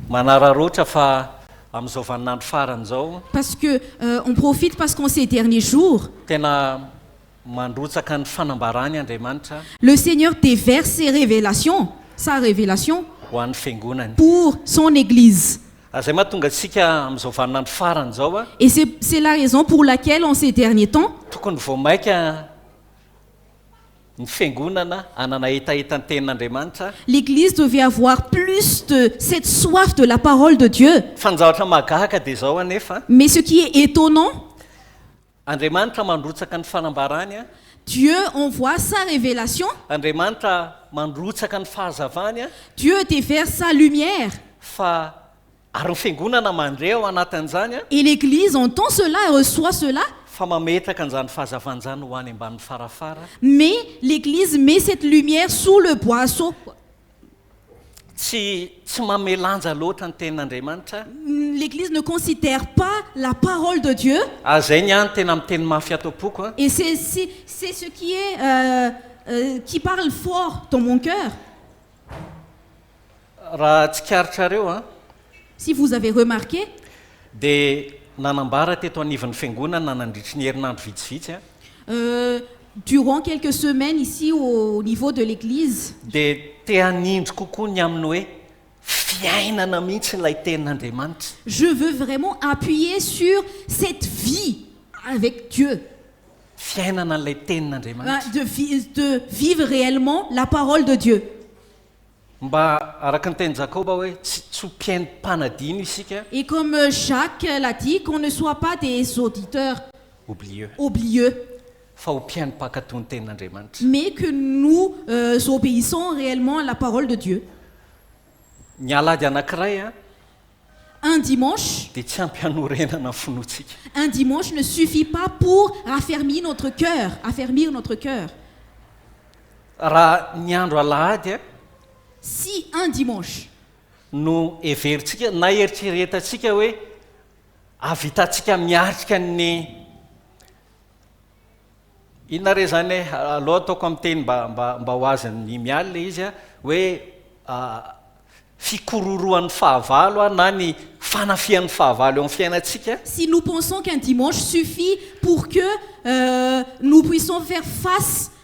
Manararaotra fa amin'izao vaninandro farany izao. Parce que on profite parce qu'en ces derniers jours. Tena mandrotsaka ny fanambarany Andriamanitra. Le Seigneur déverse ses révélations, sa révélation. Ho an'ny fiangonany. Pour son Église. Ary izay mahatonga antsika amin'izao vaninandro farany izao. Et c'est c'est la raison pour laquelle en ces derniers temps. Tokony vao maika. ny fiangonana hanana hetahetan-tenin'Andriamanitra. L'Eglise devait avoir plus de cette soif de la parole de Dieu. Fa ny zavatra mahagaga dia izao anefa. Mais ce qui est étonnant. Andriamanitra mandrotsaka ny fanambarany a. Dieu envoie sa révélation. Andriamanitra mandrotsaka ny fahazavany a. Dieu déverse sa lumière. Fa Ary ny Fiangonana mandre ao anatin'izany an. Et l'Eglise entend cela et reçoit cela. Fa mametraka an'izany fahazavan izany ho any ambanin'ny farafara. Mais l'Eglise met cette lumière sous le boisseau. Tsy, tsy mamelanja loatra ny Tenin'Andriamanitra. L'Eglise ne considère pas la parole de Dieu. Ary izay ny ahy no tena miteny mafy ato am-poko an. Et c'est, c'est, c'est ce qui est, euh, euh, qui parle fort dans mon cœur. Raha tsikaritrareo an! Si vous avez remarqué. Dia nanambara teto anivon'ny Fiangonana nandritry ny herinandro vitsivitsy an! Euh. Durant quelques semaines ici au niveau de l'église. Dia te hanindry kokoa ny amin'ny hoe fiainana mihitsy ilay Tenin'Andriamanitra. Je veux vraiment appuyer sur cette vie avec Dieu. Fiainana ilay Tenin'Andriamanitra. De vi, de vivre réellement la parole de Dieu. Mba araka ny teny Jakoba hoe tsy tsy ho mpihaino mpanadino isika. Et comme Jacques l'a dit, qu'on ne soit pas des auditeurs Oublieux. oublieux. Fa ho mpihaino mpankatò ny tenin'Andriamanitra. Mais que nous obéissons réellement à la parole de Dieu. Ny alahady anankiray an. Un dimanche. Dia tsy ampy hanorenana ny finoantsika. Un dimanche ne suffit pas pour raffermir notre cœur, affermir notre cœur. Raha ny andro alahady a. Sy un dimanche. No heverintsika na eritreretantsika hoe hahavitantsika miatrika ny, inona re izany e, aleo ataoko amin'ny teny mba, mba, mba ho azon'i Mialy ilay izy a, hoe fikororohan'ny fahavalo a, na ny fanafihan'ny fahavalo eo amin'ny fiainantsika. Si nous pensons qu'un dimanche suffit pour que nous puissions faire face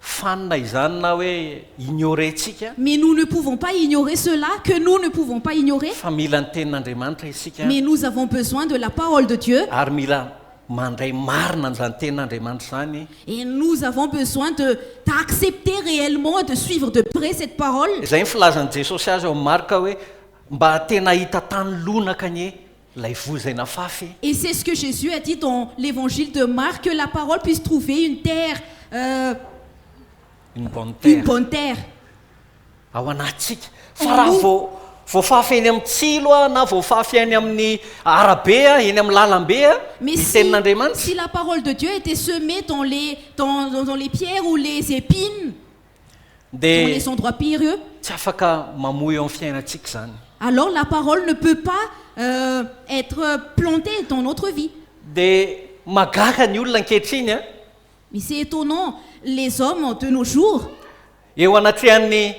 Fanina izany na hoe ignorer tsika. Mais nous ne pouvons pas ignorer cela que nous ne pouvons pas ignorer. Fa mila ny tenin'Andriamanitra isika. Mais nous avons besoin de la parole de Dieu. Ary mila mandray marina an'izany tenin'Andriamanitra izany. Et nous avons besoin de d'accepter réellement et de suivre de près cette parole. Izay ny filazan'i Jesosy azy ao amin'ny Marka hoe, Mba tena hahita tany lonaka anie. Ilay voa izay nafafy. Et c'est ce que Jesus a dit dans l'évangile de Marc que la parole puisse trouver une terre euh. Une bonne terre. Une bonne terre. Ao anatintsika. Fa raha Amoa. vao voafafy eny amin'ny tsilo aho na voafafy eny amin'ny arabe aho, eny amin'ny lalambe aho, Mais ny si, tenin'Andriamanitra. si la parole de Dieu était semée dans les, dans, dans, dans les pierres ou les épines, dans les endroits périlleux. Dia tsy afaka mamoy eo amin'ny fiainantsika izany. Alors la parole ne peut pas être plantée dans notre vie. Dia mahagaga ny olona ankehitriny an! Mais c'est étonnant les hommes de nos jours. Eo anatrehan'ny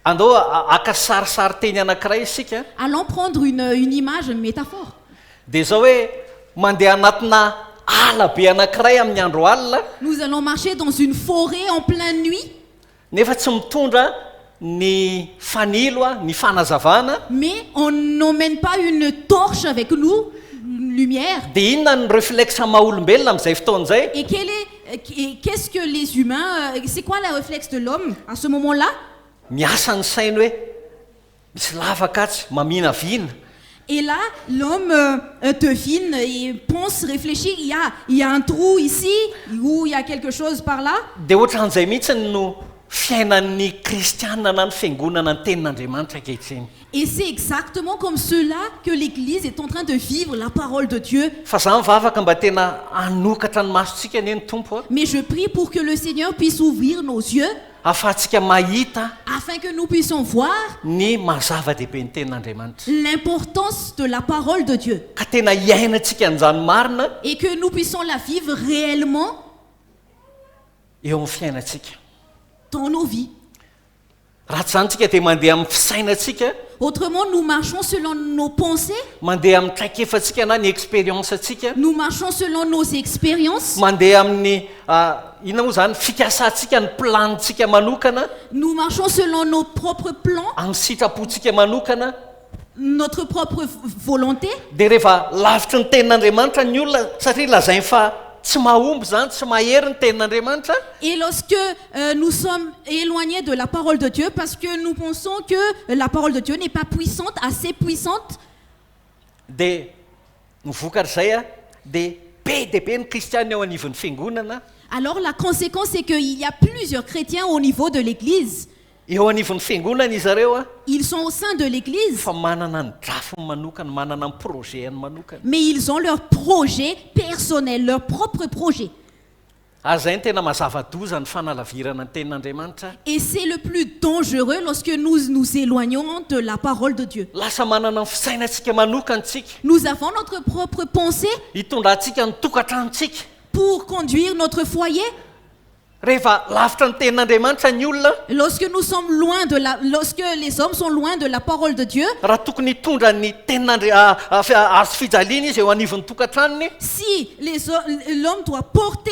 Andao haka sarisarin-teny anankiray isika. Allons prendre une une image, une métaphore. Dia izao hoe, mandeha anatina ala be anankiray amin'ny andro alina. Nous allons marcher dans une forêt en pleine nuit. Nefa tsy mitondra ny fanilo, ny fanazavana. Mais on n'emmène pas une torche avec nous, une lumière. Dia inona ny reflexe maha-olombelona amin'izay fotoana izay? Et quel est Qu'est ce que les humains, c'est quoi la reflexe de l'homme à ce moment là? Miasa ny sainy hoe misy lavaka atsy, maminavina. Et là l'homme devine et pense, réfléchit, il y a, il y a un trou ici ou il y a quelque chose par là. Dia ohatran'izay mihitsy no fiainan'ny kristiana na ny fiangonana ny tenin'Andriamanitra ankehitriny. Et c'est exactement comme cela que l'Eglise est en train de vivre la parole de Dieu. Fa za mivavaka mba tena hanokatra ny masontsika anie ny Tompo a. Mais je prie pour que le Seigneur puisse ouvrir nos yeux. Ahafahantsika mahita. Afin que nous puissions voir. Ny maha zava-dehibe ny Tenin'Andriamanitra. L'importance de la parole de Dieu. Ka tena hiainantsika an'izany marina. Et que nous puissions la vivre réellement. Eo amin'ny fiainantsika. Dans nos vies. Raha tsy izany tsika dia mandeha amin'ny fisainantsika. Autrement nous marchons selon nos pensées. Mandeha amin'ny traikefantsika na ny expérience antsika. Nous marchons selon nos expériences. Mandeha amin'ny inona moa izany fikasantsika ny plan-tsika manokana. Nous marchons selon nos propres plans. Amin'ny sitrapontsika manokana. notre propre volonté. Dia rehefa lavitry ny tenin'Andriamanitra ny olona satria lazainy fa tsy mahomby izany, tsy mahery ny tenin'Andriamanitra. Et lorsque nous sommes éloignés de la parole de Dieu parce que nous pensons que la parole de Dieu n'est pas puissante, assez puissante. Dia ny vokatr'izay dia be dia be ny kristiana eo anivon'ny fiangonana. Alors la conséquence c'est qu'il y a plusieurs chrétiens au niveau de l'église. Eo anivon'ny fiangonana izy ireo. Ils sont au sein de l'église. Fa manana ny drafiny manokana, manana ny projet-ny manokana. Mais ils ont leur projet personnel, leur propre projet. Ary izay no tena mazava-doza ny fanalavirana ny tenin'Andriamanitra. Et c'est le plus dangereux lorsque nous nous éloignons de la parole de Dieu. Lasa manana ny fisainantsika manokana isika. Nous avons notre propre pensée. Hitondrantsika ny tokantranontsika. Pour conduire notre foyer. Rehefa lavitra ny tenin'Andriamanitra ny olona. Lorsque nous sommes loin de la, lorsque les hommes sont loin de la parole de Dieu. Raha tokony hitondra ny tenin'Andri, Hazo fijaliana izy eo anivon'ny tokantranony. Si les hommes, l'homme doit porter,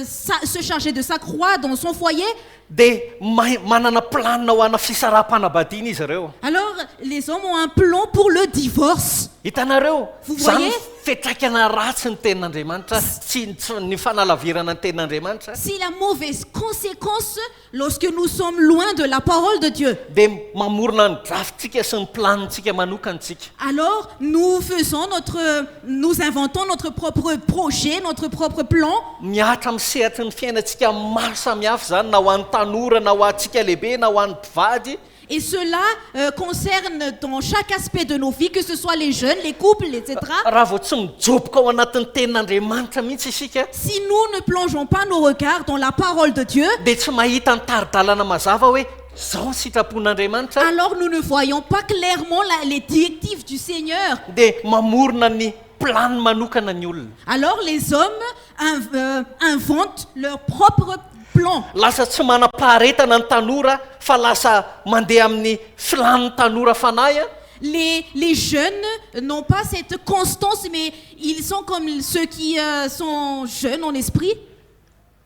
sa, se charger de sa croix dans son foyer. Dia mahay, manana planina ho ana fisaraham-panabadiana izy ireo. Alors les hommes ont un plan pour le divorce. Hitanareo? Vous voyez? Fiantraikana ratsy ny Tenin'Andriamanitra, tsy ny tsy ny fanalavirana ny Tenin'Andriamanitra. Si la mauvaise conséquence lorsque nous sommes loin de la parole de Dieu. Dia mamorona ny drafintsika sy ny planintsika manokana isika. Alors nous faisons notre, nous inventons notre propre projet, notre propre plan. Mihatra amin'ny sehatry ny fiainantsika maro samihafa izany, na ho an'ny tanora, na ho antsika lehibe, na ho an'ny mpivady. Et cela concerne dans chaque aspect de nos vies, que ce soit les jeunes, les couples, etc. Raha vao tsy mijoboka ao anatin'ny Tenin'Andriamanitra mihitsy isika, Si nous ne plongeons pas nos regards dans la Parole de Dieu, dia tsy mahita ny tari-dalana mazava hoe izao ny sitrapon'Andriamanitra, alors nous ne voyons pas clairement la- les directives du Seigneur, dia mamorona ny planiny manokana ny olona. alors les hommes inventent leur propre plan. Lasa tsy manam-paharetana ny tanora fa lasa mandeha amin'ny filàn'ny tanora fanahy an! Les les jeunes n'ont pas cette constance mais ils sont comme ceux qui sont jeunes en esprit.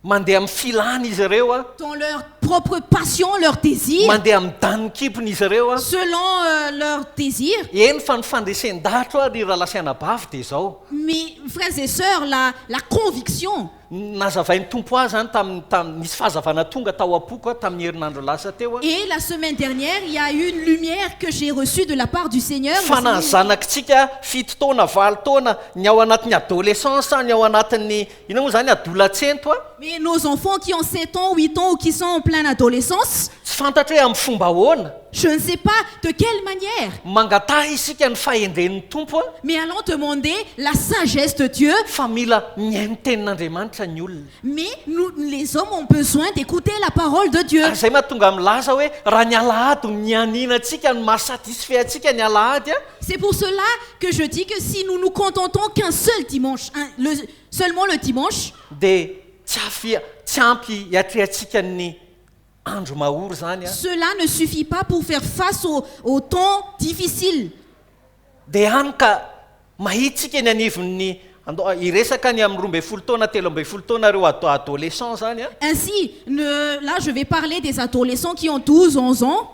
Mandeha amin'ny filàny izy ireo an! Dans leur propre passion, leur désir. Mandeha amin'ny danin-kibony izy ireo an! Selon leur désir. Eny fa ny fandresen-dahatro ary ry Ralasianabavy dia izao. Mes frères et sœurs, la, la conviction. Nazavain'ny Tompo ahy izany tamin'ny, tamin'ny, nisy fahazavana tonga tao am-poko aho tamin'ny herinandro lasa teo aho. Et la semaine dernière, il y a eu une lumière que j'ai reçue de la part du Seigneur, le Fa na ny Seigneur. zanakitsika fito taona, valo taona, ny ao anatin'ny adolescence, ny ao anatin'ny Inona moa izany adolatsento a? Mais nos enfants qui ont sept ans, huit ans ou qui sont en plein adolescence, Tsy fantatro hoe amin'ny fomba ahoana, je ne sais pas de quelle manière, mangataha isika ny fahendren'ny Tompo a, mais allons demander la sagesse de Dieu, fa mila mihaino ny tenin'Andriamanitra ny olona. mais nous, les hommes ont besoin d'écouter la parole de Dieu. Ary izay mahatonga milaza hoe raha ny alahady no nianianantsika no maha-satisfait antsika ny alahady a, C'est pour cela que je dis que si nous nous contentons qu'un seul dimanche, un, le, seulement le dimanche, Dia tsy afia, tsy ampy hiatrehantsika ny andro mahory izany an! cela ne suffit pas pour faire face aux, aux temps difficiles. Dia hany ka mahitsika eny anivon'ny, andao a, hiresaka ny amin'ny roa ambin'ny folo taona, telo ambin'ny folo taona ireo ad, adolescents izany an! Ainsi, ne, là je vais parler des adolescents qui ont douze, onze ans,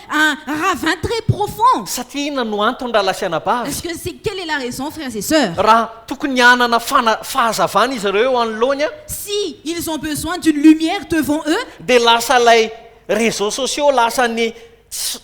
Un ravin très profond. Satria inona no antony rahalahy sy anabavy? Est-ce que c'est quelle est la raison frères et sœurs? Raha tokony hanana fana, fahazavana izy ireo eo anoloany an. Si ils ont besoin d'une lumière devant eux. Dia lasa ilay réseaux sociaux lasa ny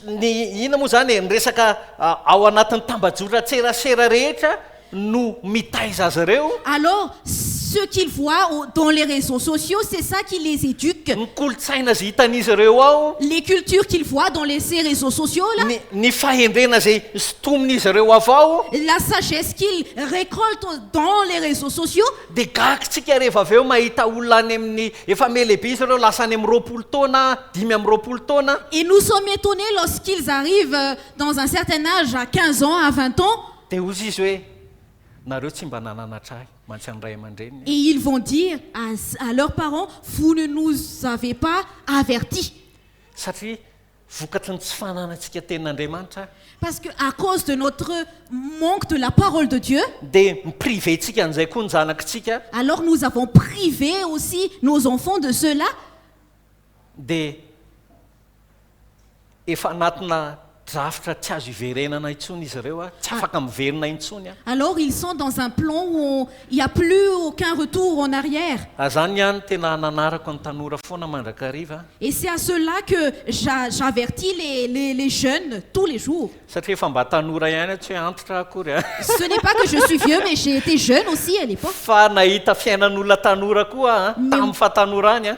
ny inona moa izany e, ny resaka ao anatin'ny tambajotran-tserasera rehetra. no mitaiza azy ireo? Alors ce qu'ils voient au dans les réseaux sociaux c'est ça qui les éduque? Ny kolontsaina izay hitan'izy ireo ao? Les cultures qu'ils voient dans les ces réseaux sociaux là? Ny ny fahendrena izay sintomin'izy ireo avy ao? La sagesse qu'ils récoltent dans les réseaux sociaux? Dia gaga isika rehefa avy eo mahita olona any amin'ny, efa ame lehibe izy ireo lasa any amin'ny roapolo taona, dimy amby roapolo taona, Et nous sommes étonnés lorsqu'ils arrivent dans un certain âge à quinze ans, à vingt ans, Dia hozy izy hoe, Nareo tsy mba nananatra ahy, mantsy an'ny ray aman-dreniny aho. Et ils vont dire à à leurs parents, Vous ne nous avez pas avertis. Satria vokatry ny tsy fananantsika tenin'Andriamanitra aho. Parce que à cause de notre manque de la parole de Dieu. Dia mi-priver-tsika an'izay koa ny zanakitsika. Alors nous avons privé aussi nos enfants de cela. dia efa anatina drafitra tsy azo hiverenana intsony izy ireo ary tsy afaka miverina intsony an! Alors ils sont dans un plan où on, il n'y a plus aucun retour en arrière. Ary izany ny ahy no tena nanarako ny tanora foana mandrakariva an! Et c'est à cela que j'a, j'avertis les, les, les jeunes tous les jours. Satria efa mba tanora ihany aho, tsy hoe antitra aho akory an! Ce n'est pas que je suis vieux mais j'ai été jeune aussi à l'époque. Fa nahita fiainan'olona tanora koa aho an, tamin'ny fahatanorany an!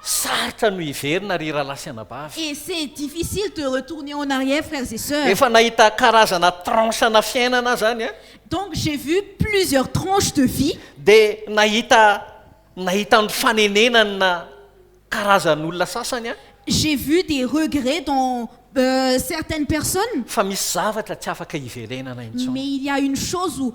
Sarotra no hiverina ry rahalahy sy anabavy. Et c'est difficile de retourner en arrière frères et sœurs. Efa nahita karazana tranche-na fiainana aho zany a. Donc j'ai vu plusieurs tranches de vie. Dia nahita nahita ny fanenenana karazan'olona sasany aho. J'ai vu des regrets dans certaines personnes. Fa misy zavatra tsy afaka hiverenana intsony. Mais il y a une chose où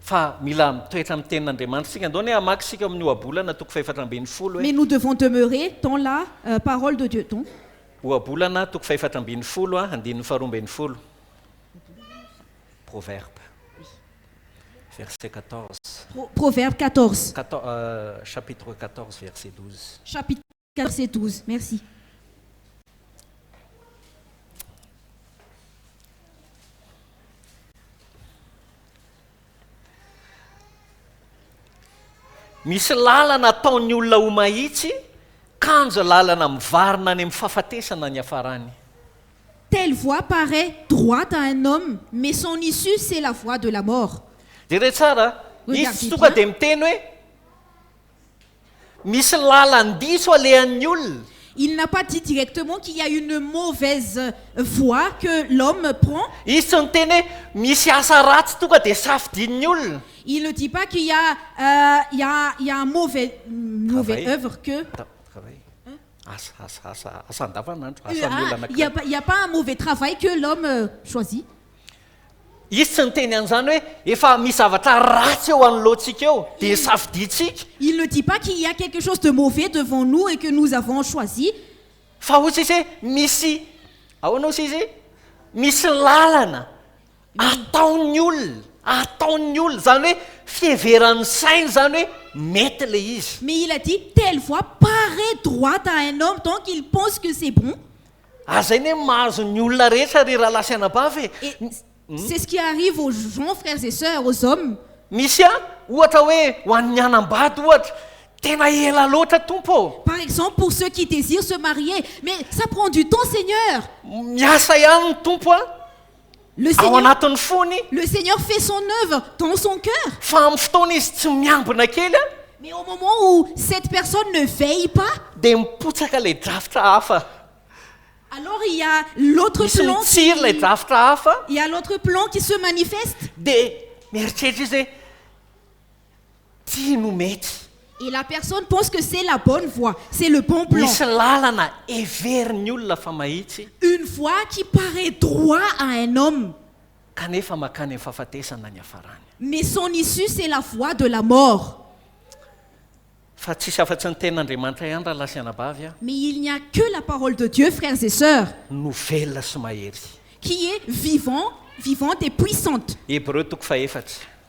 fa mila mitoetra amin'ny tenin'Andriamanitra isika. Andao anie hamaky isika ao amin'ny Ohabolana toko fahefatra ambin'ny folo hoe. Mais nous devons demeurer dans la parole de Dieu donc. Ohabolana toko fahefatra ambin'ny folo andininy faharoa ambin'ny folo. Proverbe. Verset 14. Proverbe 14. Chapitre 14 verset 12. quatorze et douze. Merci. Misy lalana ataon'ny olona ho mahitsy, kanja lalana mivarina any amin'ny fahafatesana ny hafarany. Telle voie parait droite à un homme, mais son issue c'est la voie de la mort. Jereo tsara, izy tsy tonga dia miteny hoe. Misy lalan-diso alehan'ny olona. Il n'a pas dit directement qu'il y a une mauvaise voie que l'homme prend. Izy tsy niteny hoe misy asa ratsy tonga dia safidian'ny olona. Il ne dit pas qu'il y a il y a il y a un mauvais une mauvaise œuvre que. Travail. Asa, asa, asa, asa andavanandro, asan'ny olona anankiray. Il y a pas il y a pas un mauvais travail que l'homme choisit. Izy tsy niteny an'izany hoe efa misy zavatra ratsy eo anoloantsika eo, dia safidiantsika. Il ne dit pas qu'il y a quelque chose de mauvais devant nous et que nous avons choisi. Fa hoy tsy izy hoe misy, ahoana hoy tsy izy, misy lalana ataon'ny olona, ataon'ny olona, izany hoe fiheveran'ny sainy izany hoe mety ilay izy. Mais il a dit, telle voie parait droite à un homme donc il pense que c'est bon. Aza anie mahazo ny olona rehetra ry rahalahy sy anabavy e! Et c'est ce qui arrive aux gens, frères et sœurs, aux hommes. Misy an, ohatra hoe ho an'ny hanambady ohatra, tena ela loatra Tompo ô! Par exemple pour ceux qui désirent se marier, mais ça prend du temps Seigneur! Miasa ihany ny Tompo an! Le ao Seigneur, anatin'ny fony le Seigneur fait son œuvre dans son cœur. fa amin'ny fotoana izy tsy miambina kely a, Mais au moment où cette personne ne veille pas, dia mipotsaka ilay drafitra hafa alors il y a l'autre misy plan qui, mitsiry ilay drafitra hafa il y a l'autre plan qui se manifeste. dia mieritreritra izy hoe Ty no mety. Et la personne pense que c'est la bonne voie, c'est le bon plan. Misy lalana heverin'ny olona fa mahitsy. Une voie qui parait droit à un homme. Kanefa makany amin'ny fahafatesana ny hafarany. Mais son issue c'est la voie de la mort. Fa tsisy afa-tsy ny Tenin'Andriamanitra ihany rahalahy sy anabavy a. Mais il n'y a que la parole de Dieu frères et sœurs. No velona sy mahery. Qui est vivant, vivante et puissante. Hebreu toko faha efatra.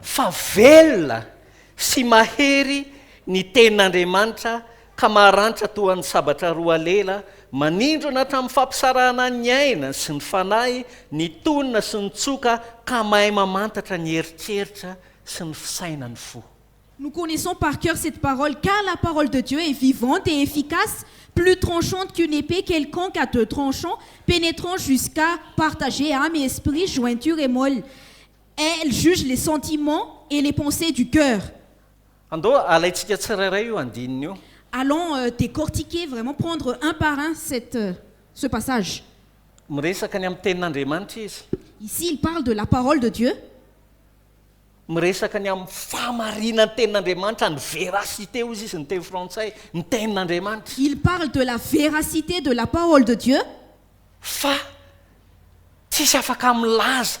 Fa velona sy mahery ny Tenin'Andriamanitra ka maharanitra toa ny sabatra roa lela, manindrona hatramin'ny fampisarahana ny aina sy ny fanahy, ny tonina sy ny tsoka ka mahay mamantatra ny eritreritra sy ny fisainan'ny fo. Nous connaissons par cœur cette parole, car la parole de Dieu est vivante et efficace, plus tranchante qu'une épée quelconque à deux tranchants, pénétrant jusqu'à partager âme et esprit, jointure et moelle, Elle juge les sentiments et les pensees du cœur. Andao alaintsika tsirairay io andininy io. Allons décortiquer vraiment, prendre un par un cette, ce passage. Miresaka ny amin'ny Tenin'Andriamanitra izy. Ici il parle de la parole de Dieu. Miresaka ny amin'ny fahamarinan'ny Tenin'Andriamanitra, ny véracité hozy izy ny teny frantsay, ny Tenin'Andriamanitra. Il parle de la véracité de la parole de Dieu. Fa tsisy afaka milaza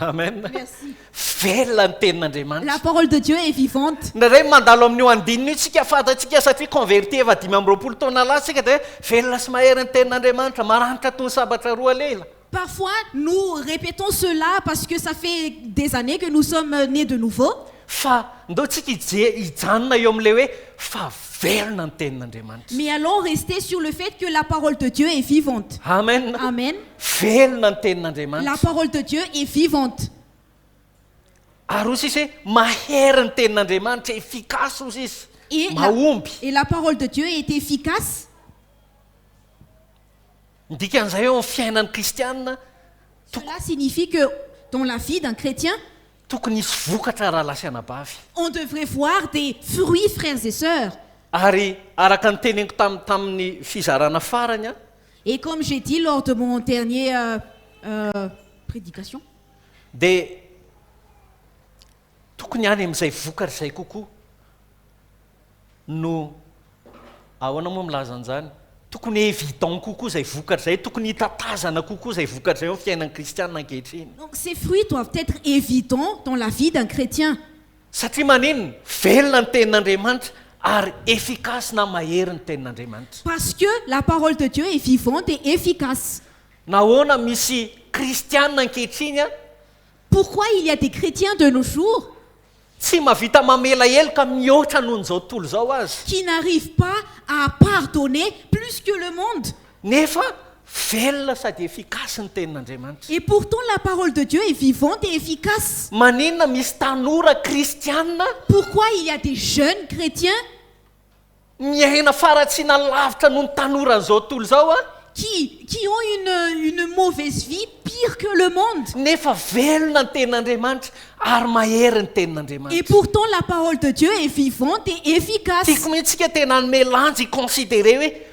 Amen. Merci. Velona ny tenin'Andriamanitra. La parole de Dieu est vivante. Indraindray mandalo amin'io andininy io tsika fantatsika satria converti efa dimy amby roapolo taona lasa tsika dia velona sy mahery ny tenin'Andriamanitra, maranitra toy ny sabatra roa lela. Parfois nous répétons cela parce que ça fait des années que nous sommes nés de nouveau. Fa ndao tsika hije- hijanona eo amin'ilay hoe fa velona ny tenin'Andriamanitra. Mais allons rester sur le fait que la parole de Dieu est vivante. Amen. Amen. Velona ny tenin'Andriamanitra. La parole de Dieu est vivante. Ary hoy sisa hoe, Mahery ny tenin'Andriamanitra, efficace hoy sisa. Et la, Mahomby. et la parole de Dieu est efficace. Ny dikan'izay eo amin'ny fiainan'ny kristiana, toko, Cela signifie que dans la vie d'un chrétien, tokony hisy vokatra rahalahy sy anabavy. on devrait voir des fruits, frères et sœurs. Ary araka ny teneniko tam, tamin'ny fizarana farany an, Et comme j'ai dit lors de mon dernier prédication. Dia tokony any amin'izay vokatra izay kokoa no ahoana moa milaza an'izany? Tokony évident kokoa izay vokatra izay, tokony hita tazana kokoa izay vokatra izay ao amin'ny fiainan'ny kristiana ankehitriny. Donc ces fruits doivent être évidents dans la vie d'un chrétien. Satria maninona? Velona ny tenin'Andriamanitra ary efficace na mahery ny tenin'Andriamanitra. Parce que la parole de Dieu est vivante et efficace. Nahoana misy kristiana ankehitriny a? Pourquoi il y a des chretiens de nos jours. Tsy mahavita mamela heloka mihoatra noho ny izao tontolo izao aza. Qui n'arrivent pas à pardonner plus que le monde. Nefa velona sady efficace ny tenin'Andriamanitra. Et pourtant la parole de Dieu est vivante et efficace. Maninona misy tanora kristiana. Pourquoi il y a des jeunes chretiens. Miaina faratsiana lavitra noho ny tanoran'izao tontolo izao a. Qui, qui ont une, une mauvaise vie pire que le monde. Nefa velona ny tenin'Andriamanitra ary mahery ny tenin'Andriamanitra. Et pourtant la parole de Dieu est vivante et efficace. Tiako mihitsy isika tena hanome lanja hi-considerer hoe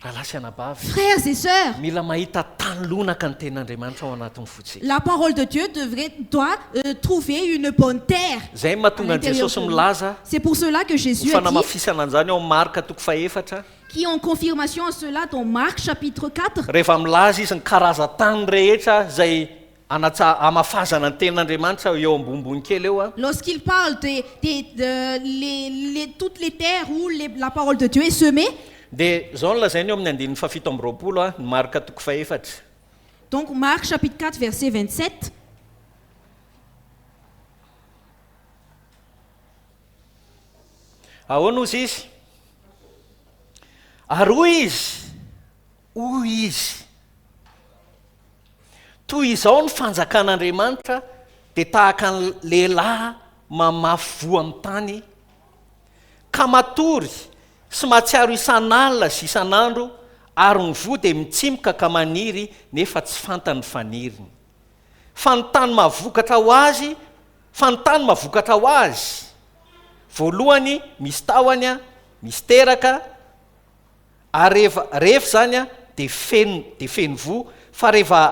Rahalahy sy anabavy, Frères et sœurs, mila mahita tany lonaka ny Tenin'Andriamanitra ao anatin'ny fontsika. la parole de Dieu devrait, doit, trouver une bonne terre Izay no à mahatonga an'i l'intérieur Jesosy de nous. milaza C'est pour cela que ho Jésus a dit, fanamafisana an'izany ao amin'ny Marka toko fahefatra, qui en confirmation à cela dans Marc chapitre 4, rehefa milaza izy ny karazan-tany rehetra izay Anatsa hamafazana ny tenin'Andriamanitra eo ambonimbony kely eo a. Lorsqu'il parle des des de les les toutes les terres où les la parole de Dieu est semée. Dia izao no lazainy eo amin'ny andininy fahafito amby roapolo a, ny Marka toko fahefatra. Donc Marc chapitre quatre verset vingt sept. Ahoana ozy izy? Ary hoy izy. Hoy izy, Toy izao ny fanjakan'Andriamanitra, dia tahaka ny lehilahy mamafy voa amin'ny tany, ka matory sy mahatsiaro isan'alina sy isan'andro, ary ny voa dia mitsimoka ka maniry nefa tsy fantany ny faniriny. Fa ny tany mahavokatra ho azy, fa ny tany mahavokatra ho azy, voalohany misy tahony, misy teraka, ary rehefa rehefa izany a de feno de feno voa fa rehefa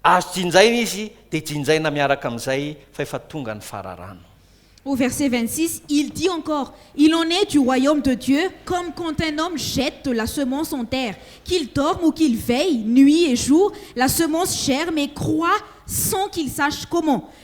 azo jinjaina izy de jinjaina miaraka amin'izay fa efa tonga ny fararano Au verset 26, il dit encore, Il en est du royaume de Dieu comme quand un homme jette de la semence en terre. Qu'il dorme ou qu'il veille, nuit et jour, la semence germe et croît sans qu'il sache comment.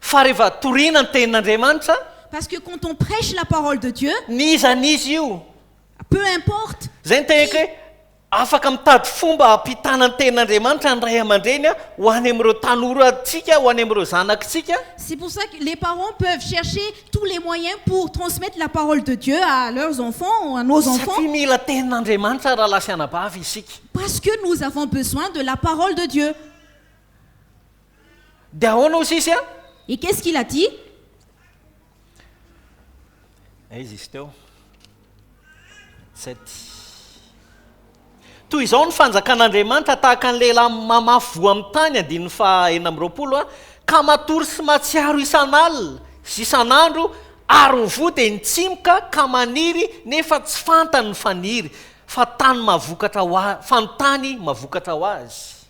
Fa rehefa torina ny tenin'Andriamanitra. Parce que quand on prêche la parole de Dieu. N'iza n'iza io. Peu importe. Zay ny teneniko hoe afaka mitady fomba hampitana ny tenin'Andriamanitra ny ray aman-dreny ho any amin'ireo tanorantsika, ho any amin'ireo zanakitsika. C'est pour ça que les parents peuvent chercher tous les moyens pour transmettre la parole de Dieu à leurs enfants ou à nos enfants. Satria mila tenin'Andriamanitra rahalahy sy anabavy isika. Parce que nous avons besoin de la parole de Dieu. Dia ahoana hoy sisy a? Et qu'est-ce qu'il a dit? Dia izy izy teo. Sept. Toy izao ny fanjakan'Andriamanitra, tahaka ny lehilahy mamafy voa amin'ny tany, andininy faha enina amby roapolo a, ka matory sy matsiaro isan'alina sy isan'andro, ary ny voa dia nitsimoka ka maniry nefa tsy fantany ny faniry, fa tany mavokatra ho a, fa ny tany mavokatra ho azy.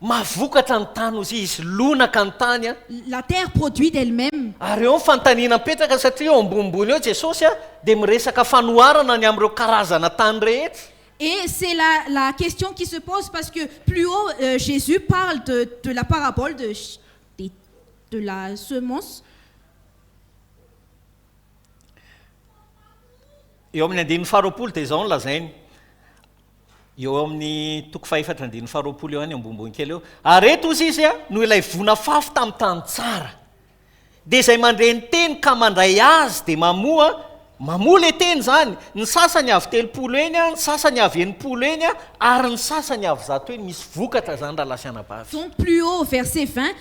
Mahavokatra ny tany hozy izy, lonaka ny tany an. La terre produit d'elle même. Ary eo ny fanontaniana mipetraka satria eo ambonimbony eo Jesosy an dia miresaka fanoharana ny amin'ireo karazana tany rehetra. Et c'est la la question qui se pose parce que plus haut Jesus parle de de la parabole de des de la semence. Eo amin'ny andininy faharoapolo dia izao no lazainy. eo amin'ny toko fahefatra andininy faharoapolo eo any ambonimbony kely eo ary reto ozy izy a no ilay vona fafy tamin'ny tany tsara dia izay mandre ny teny ka mandray azy dia mamoa mamoa le teny zany ny sasany avy telopolo eny a ny sasany avy enimpolo eny a ary ny sasany avy zato eny misy vokatra zany raha lasianabavy Ton plus haut, verset 20,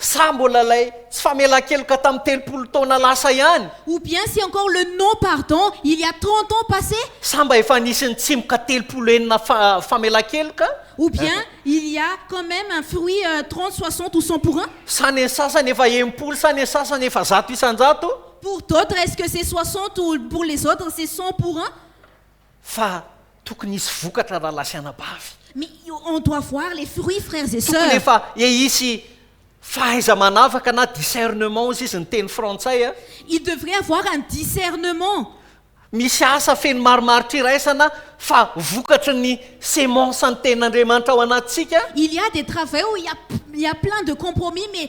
Sa mbola ilay tsy famelan-keloka tamin'ny telopolo taona lasa ihany? Ou bien c'est encore le non pardon il y a trente ans passés? Sa mba efa nisy nitsimoka telopolo enina fa famelan-keloka? Ou bien il y a quand même un fruit trente, soixante ou cent pour un? Sa ny sasany efa enimpolo sa ny sasany efa zato isan-jato? Pour d'autres est-ce que c'est soixante ou pour les autres c'est cent pour un? Fa tokony hisy vokatra rahalahy sy anabavy. Mais on doit voir les fruits frères et Tokony sœurs. efa ehisy fahaiza-manavaka na discernement hozy izy ny teny frantsay a. Il devrait avoir un discernement. Misy asa feno marimaritra iraisana fa vokatry ny semence ny tenin'Andriamanitra ao anatintsika. Il y a des travaux où il y a il y a plein de compromis mais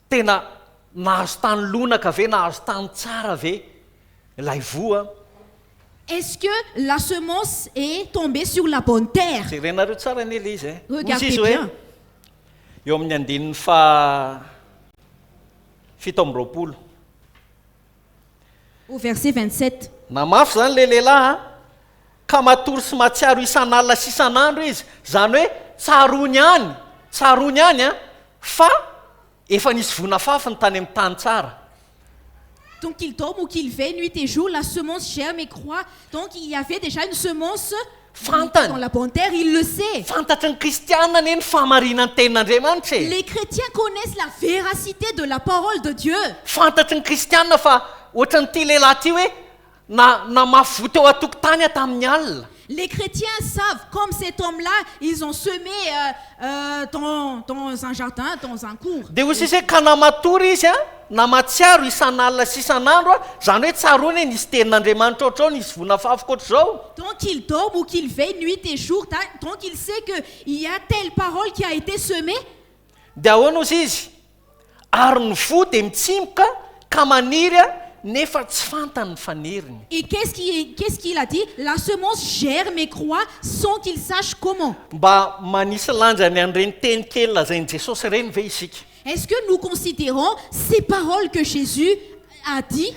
Tena nahazo tany lonaka ve, nahazo tany tsara ve ilay voa? Est-ce que la semence est tombée sur la bonne terre? Jerenareo tsara anie ilay izy e. Hoy izy hoe, eo amin'ny andininy faha fito amby roapolo, au verset 27. Na mafy izany ilay lehilahy an! Ka matory sy mahatsiaro isan'alina sy isan'andro izy, izany hoe tsaroany any, tsaroany any an! fa efa nisy voa nafafy ny tany amin'ny tany tsara. Donc il dorme ou qu'il veille nuit et jour la semence germe et croit donc il y avait déjà une semence Fantany. La bonne terre, il le sait. Fantatry ny kristiana anie ny fahamarinan tenin'Andriamanitra e. Les chretiens connaissent la véracité de la parole de Dieu. Fantatry ny kristiana fa ohatran'ity lehilahy ity hoe na namafy voa teo atokotany aho tamin'ny alina. Les chretiens savent comme cet homme là ils ont semé euh euh dans dans un jardin dans un cours. Dia hoy sisa hoe ka na matory izy a. Na mahatsiaro isan'alina sy isan'andro aho, izany hoe tsaroany hoe nisy tenin'Andriamanitra ohatrao, nisy vonafafy ohatr'izao. Donc il dort ou qu'il veille nuit et jour, da, donc il sait que il y a telle parole qui a été semée? Dia ahoana ozy izy? Ary ny voa dia mitsimoka ka maniry nefa tsy fantany ny faniriny. Et qu'est-ce qui, qu'est-ce qu'il a dit? La semence germe et croit sans qu'il sache comment. Mba manisy lanja ny an'ireny teny kely lazain'i Jesosy ireny ve isika? Est ce que nous considerons ces paroles que Jesus a dit?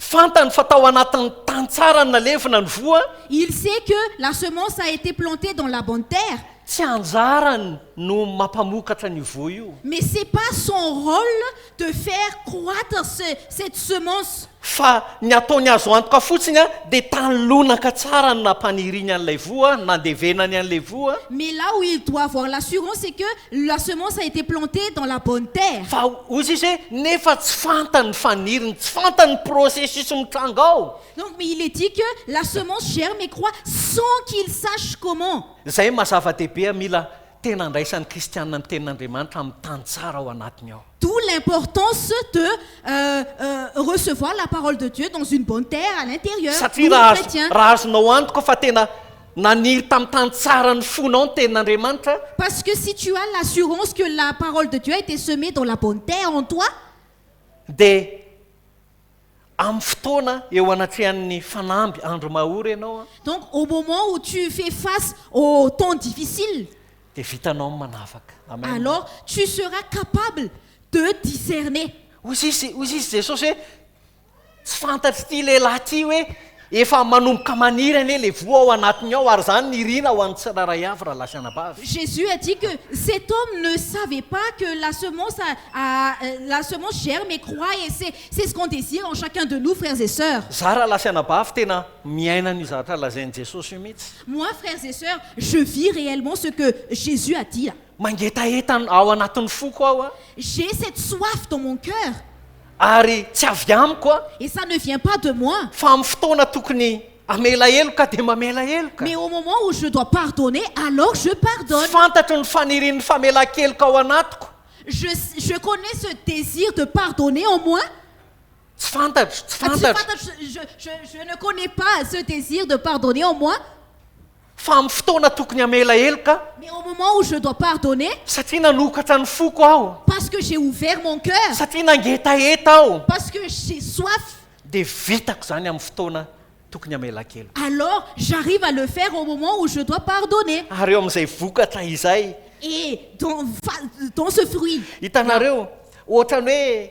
Fantany fa tao anatin'ny tany tsara nalevina ny voa. Il sait que la semence a été plantée dans la bonne terre. Tsy anjarany no mampamokatra an'io voa io. Mais c'est pas son rôle de faire croître ce cette semence. Fa ny ataony azo antoka fotsiny dia tany lonaka tsara no nampaniriany an'ilay voa, nandevenany an'ilay voa. Mais là où il doit avoir l'assurance c'est que la semence a été plantée dans la bonne terre. Fa hozy izy hoe, nefa tsy fantany ny faniriny, tsy fantany ny processus mitranga ao. Donc mais il est dit que la semence germe et croît sans qu'il sache comment. Izay maha zava-dehibe mila Tena andraisan'ny kristiana ny tenin'Andriamanitra amin'ny tany tsara ao anatiny ao. D'où l'importance de recevoir la parole de Dieu dans une bonne terre à l'intérieur, nous les chrétiens. Raha azonao antoka fa tena naniry tamin'ny tany tsara ny fonao ny tenin'Andriamanitra. Parce que si tu as l'assurance que la parole de Dieu a été semée dans la bonne terre en toi. Dia amin'ny fotoana eo anatrehan'ny fanamby andro mahory ianao an. Donc au moment où tu fais face aux temps difficiles. Dia vitanao ny manavaka. Amen. Alors tu seras capable de discerner. Hoy izy hoy izy Jesosy hoe tsy fantatr'ity lehilahy ity hoe Efa manomboka maniry anie le voa ao anatiny ao ary zany nirina ho an'ny tsirairay avy rahalahy sy anabavy. Jesus a dit que cet homme ne savait pas que la semence a a la semence germe et croit et c'est c'est ce qu'on désire en chacun de nous frères et sœurs. Za rahalahy sy anabavy tena miaina an'io zavatra lazain'i Jesosy io mitsy. Moi frères et sœurs je vis réellement ce que Jesus a dit a. Mangetaheta ao anatin'ny foko aho a. J'ai cette soif dans mon cœur. ary tsy avy amiko an. Et ça ne vient pas de moi. Fa amin'ny fotoana tokony hamela heloka dia mamela heloka. Mais au moment où je dois pardonner alors je pardonne. Fantatro ny fanirian'ny famelan-keloka ao anatiko. Je, je connais ce désir de pardonner en moi. Tsy fantatro, tsy fantatro. Tsy fantatro, je, je, je ne connais pas ce désir de pardonner en moi. Fa amin'ny fotoana tokony hamela heloka. Mais au moment où je dois pardonner. Satria nanokatra ny foko aho. Parce que j'ai ouvert mon cœur. Satria nangetaheta aho. Parce que j'ai soif. Dia vitako izany amin'ny fotoana tokony hamelan-keloka. Alors j'arrive à le faire au moment où je dois pardonner. Ary eo amin'izay vokatra izay. Et dans fa dans ce fruit. Hitanareo, ohatran'ny hoe.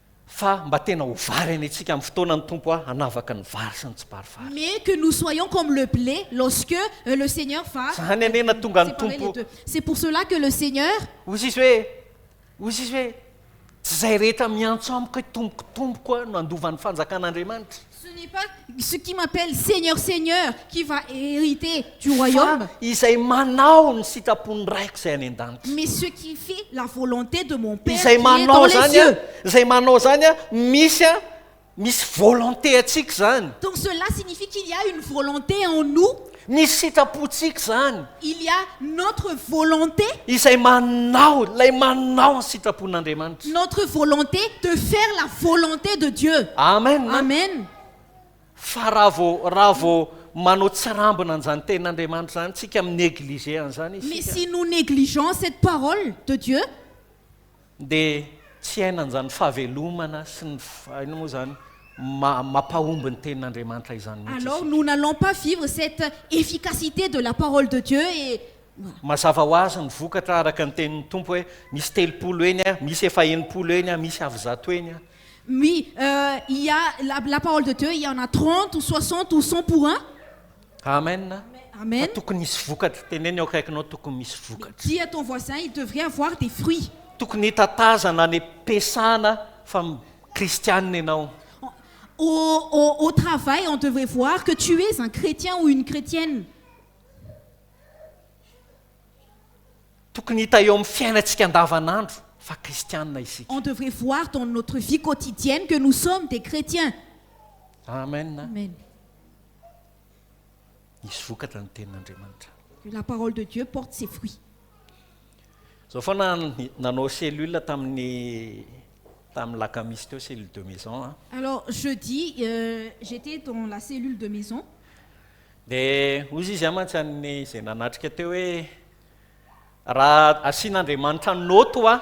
Fa mba tena ho vary any antsika amin'ny fotoanan'ny Tompo aho hanavaka ny vary sy ny tsiparifary. Mais que nous soyons comme le blé lorsque le Seigneur va. Zany anie na tonga ny Tompo. C'est pour cela que le Seigneur. Hoy izy hoe, hoy izy hoe, Tsy izay rehetra miantso amiko hoe Tompoko, Tompoko no handova ny fanjakan'Andriamanitra. Ce n'est pas ce qui m'appelle Seigneur, Seigneur qui va hériter du royaume. Fa izay manao ny sitrapon'ny Raiko izay any an-danitra. Mais ce qui fait la volonté de mon Père qui est dans les cieux. Izay manao izany, izay manao izany misy a misy volonté antsika izany. Donc cela signifie qu'il y a une volonté en nous. Ny sitrapontsika izany. Il y a notre volonté. Izay manao, ilay manao ny sitrapon'Andriamanitra. Notre volonté de faire la volonté de Dieu. Amen. Amen. Fa raha vao, raha vao manao tsirambina an'izany tenin'Andriamanitra izany isika, mi-negliger an'izany isika. Mais si nous négligeons cette parole de Dieu. Dia tsy hiaina an'izany fahavelomana sy ny inona moa izany mampahomby ny tenin'Andriamanitra izany mihitsy isika. Alors nous n'allons pas vivre cette efficacité de la parole de Dieu et. Mazava ho azy ny vokatra araka ny tenin'ny Tompo hoe misy telopolo eny a, misy efa enimpolo eny a, misy avy zato eny a. Oui, euh, il y a la, la parole de Dieu, il y en a trente ou soixante ou cent pour un. Amen fa tokony hisy vokatra, teneno eo akaikinao tokony misy vokatra. Dis à ton voisin il devrait avoir des fruits. Tokony hitatazana any am-piasana fa kristianina ianao. Au au travail on devrait voir que tu es un chrétien ou une chrétienne. Tokony hita eo amin'ny fiainantsika andavanandro fa kristianina isika. On devrait voir dans notre vie quotidienne que nous sommes des chrétiens. Amen. hisy vokatra ny tenin'Andriamanitra. La parole de Dieu porte ses fruits. Zao foana nanao cellule tamin'ny tamin'ny lakamisy teo cellule de maison a. Alors jeudi euh, j'étais dans la cellule de maison. Dia hoy izy a mantsy an'ny izay nanatrika teo hoe raha asian'Andriamanitra note wa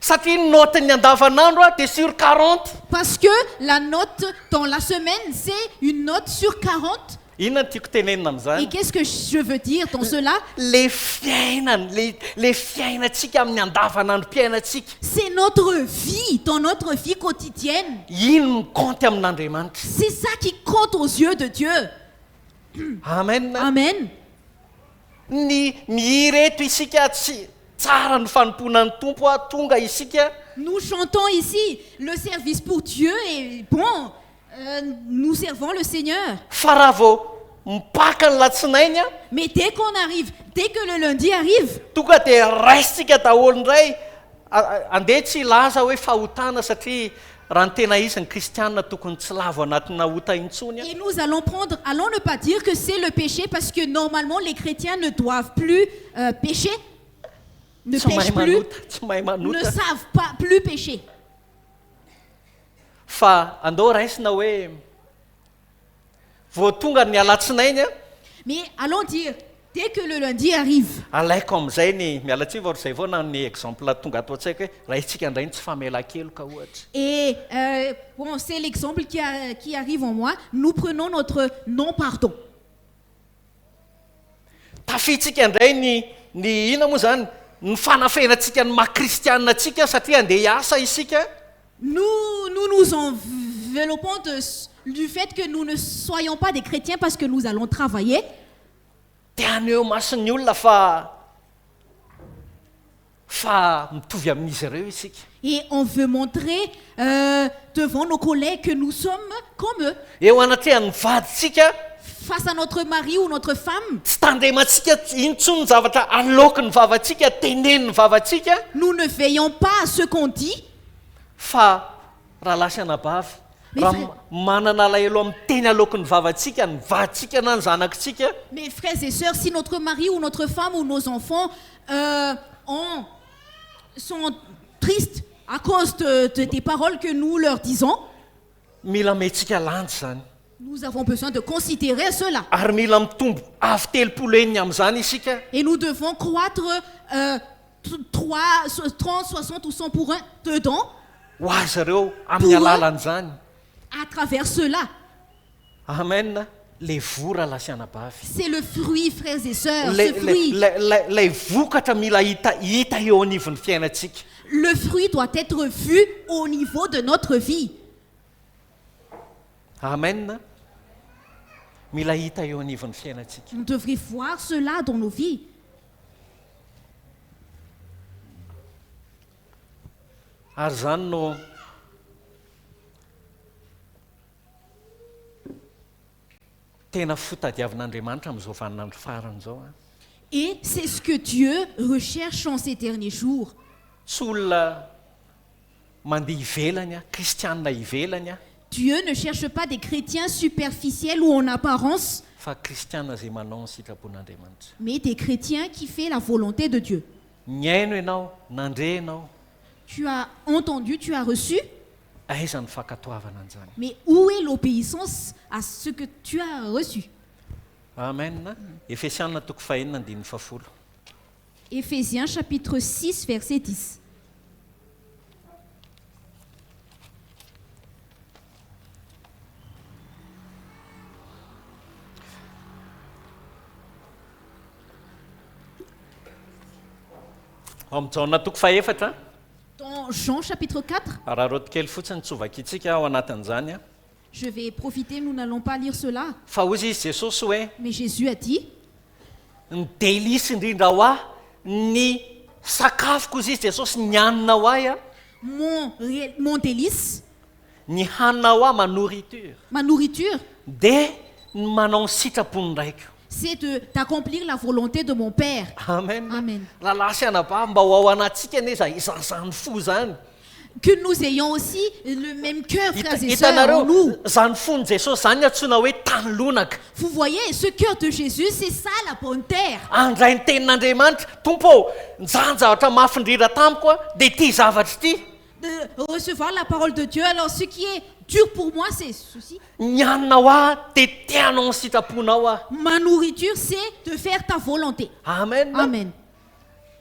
Satria ny note n'ny andavanandro a dia sur quarante. Parce que la note dans la semaine c'est une note sur quarante. Inona no tiako tenenina amin'izany? Et qu'est-ce que je veux dire dans cela? Ilay fiainana, ilay ilay fiainantsika amin'ny andavanandrom-piainantsika. C'est notre vie, dans notre vie quotidienne. Iny no mi-compte amin'Andriamanitra. C'est ça qui compte aux yeux de Dieu. Amen. Amen. Ny mihira eto isika tsy tsara ny fanompoana ny Tompo a tonga isika. Nous chantons ici le service pour Dieu et bon nous servons le Seigneur. Fa raha vao mipaka ny latsinainy a. Mais dès qu'on arrive dès que le lundi arrive. Tonga dia raisitsika daholo indray. Andeha tsy hilaza hoe fahotana satria raha ny tena izy ny kristiana tokony tsy lavo anatina ota intsony an. Et nous allons prendre, allons ne pas dire que c'est le péché parce que normalement les chrétiens ne doivent plus pécher, ne pèchent plus, ne savent pas plus pécher. Fa andao raisina hoe Vao tonga ny alatsinainy an! Mais allons dire dès que le lundi arrive. Alaiko amin'izay ny miala tsiny vao ry izay vao nanome exemple tonga ato an-tsaiko hoe raha isika indray ny tsy famelan-keloka ohatra. Et euh bon c'est l'exemple qui qui arrive en moi, nous prenons notre non pardon. Tafihintsika indray ny ny inona moa izany? Ny fanafenantsika ny maha kristiana antsika satria handeha hiasa isika. Nous nous nous enveloppons de du fait que nous ne soyons pas des chrétiens parce que nous allons travailler. Dia haneho mason'ny olona fa Fa mitovy amin'izy ireo isika. Et on veut montrer devant nos collègues que nous sommes comme eux. Eo anatrehan'ny vadintsika. Face à notre mari ou notre femme. Tsy tandremantsika intsony ny zavatra aloakin'ny vavantsika, tenenin'ny vavantsika. Nous ne veillons pas à ce qu'on dit. Fa. Rahalahy sy anabavy, raha manana alahelo amin'ny teny aloaky ny vavantsika, ny vadintsika na ny zanakitsika, Mes frères et sœurs, si notre mari ou notre femme ou nos enfants euh, ont, sont tristes à cause de, de, des paroles que nous leur disons, Mila amehintsika lanja izany. Nous avons besoin de considerer cela. Ary mila mitombo avo telopolo heny amin'izany isika. Et nous devons croître trois, trente, soixante ou cent pour un dedans. Ho azy ireo amin'ny alalan'izany. À travers cela. Amen, ilay voa raha lahy sy anabavy. C'est le fruit, frères et sœurs, ce fruit. Ilay vokatra mila hita, hita eo anivon'ny fiainantsika. Le fruit doit être vu au niveau de notre vie. Amen Mila hita eo anivon'ny fiainantsika. Nous devrions voir cela dans nos vies. Ary izany no tena fotadiavin'Andriamanitra amin'izao vaninandro farany izao. Et c'est ce que Dieu recherche en ces derniers jours. Tsy olona Mandeha ivelany aho, kristianina ivelany aho. Dieu ne cherche pas des chrétiens superficiels ou en apparence. Fa kristianina izay manao ny sitrapon'Andriamanitra. Mais des chrétiens qui fait la volonté de Dieu. Nihaino ianao, nandre ianao. Tu as entendu, tu as reçu. Aiza ny fankatoavana an'izany? Mais où est l'obéissance à ce que tu as reçu? Amen, Efesiana toko fahenina andininy fahafolo. Ephésiens chapitre 6 verset 10 Ao amin'ny Jaona toko fahefatra, Dans Jean chapitre 4, araraoty kely fotsiny tsy ho vakintsika ao anatin'izany. Je vais profiter nous n'allons pas lire cela. Fa hoy izy, Jesosy, hoe. Mais Jésus a dit. Ny délices indrindra ho ahy, ny sakafoko, hoy izy, Jesosy, ny hanina ho ahy, an. Mon, mon délice. Ny hanina ho ahy, ma nourriture. Ma nourriture. Dia ny manao ny sitrapon'ny Raiko. C'est de, d'accomplir la volonté de mon Père. Amen. Amen. Rahalahy sy anabavy, mba ho ao anatintsika anie izany, izany foza izany. Que nous ayons aussi le meme cœur Hita- frères et sœurs en Hitanareo, nous. izany fon'i Jesosy izany no antsoina hoe tany lonaka. Vous voyez, ce cœur de Jésus, c'est ça la bonne terre. Handray ny tenin'Andriamanitra, Tompo ô, nijanona zavatra mafindrira tamiko aho, dia ity zavatra ity. De recevoir la parole de Dieu, alors ce qui est dur pour moi, c'est ceci. Ny haninao ahy, dia te hanao ny sitraponao aho. Ma nourriture, c'est de faire ta volonté. Amen. Amen.